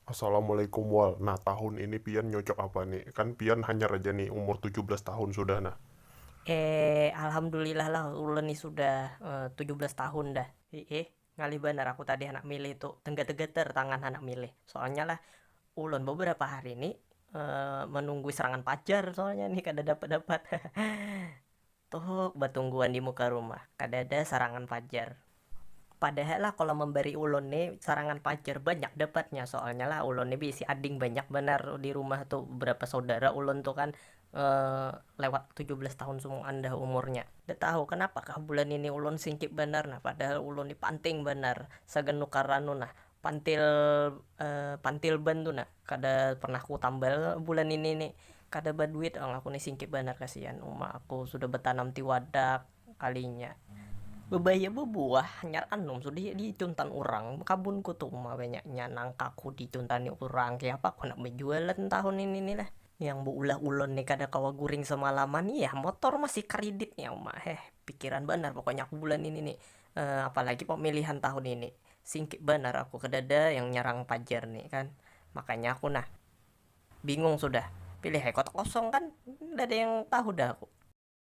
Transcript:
Assalamualaikum wal, nah tahun ini pian nyocok apa ni, kan pian hanyar aja ni umur tujuh belas tahun sudah nah. Eee alhamdulillah lah ulun ni sudah tujuh belas tahun dah. Hiih Ngalih banar aku tadi handak milih tu, tenggeter-geter tangan handak milih. Soalnya lah, ulun beberapa hari ni menunggu serangan pajar soalnya ni kada dapat-dapat. Tuhuk betungguan di muka rumah, kadada sarangan pajar. Padahal lah kalau membari ulun ni sarangan pajar banyak dapatnya, soalnya lah ulun ni beisi ading banyak banar di rumah tu, berapa saudara ulun tu kan. lewat tujuh belas tahun sumoan dah umurnya, kada tahu kanapa kah bulan ini ulun singkip banar nah, padahal ulun ni panting banar sagan nukar anu nah pantil pantil ban tu nah kada pernah ku tambal bulan ini ni, kada baduit pang aku ni singkip banar kasian uma aku sudah batanam tiwadak kalinya babaya babuah hanyar anum sudah ya di cuntan urang kabun ku tu uma banyaknya nangka ku di cuntani urang kayapa ku handak bajualan tahun ini ni lah. Yang beulah ulun ni kada kawa guring semalaman ni yah motor masih kridit nya uma heh, pikiran banar pokoknya aku bulan ini ni, apalagi pemilihan tahun ini, singkit banar aku kedada yang nyerang pajar ni kan, makanya aku nah bingung sudah, pilih ai kotak kosong kan, kadada yang tahu dah aku.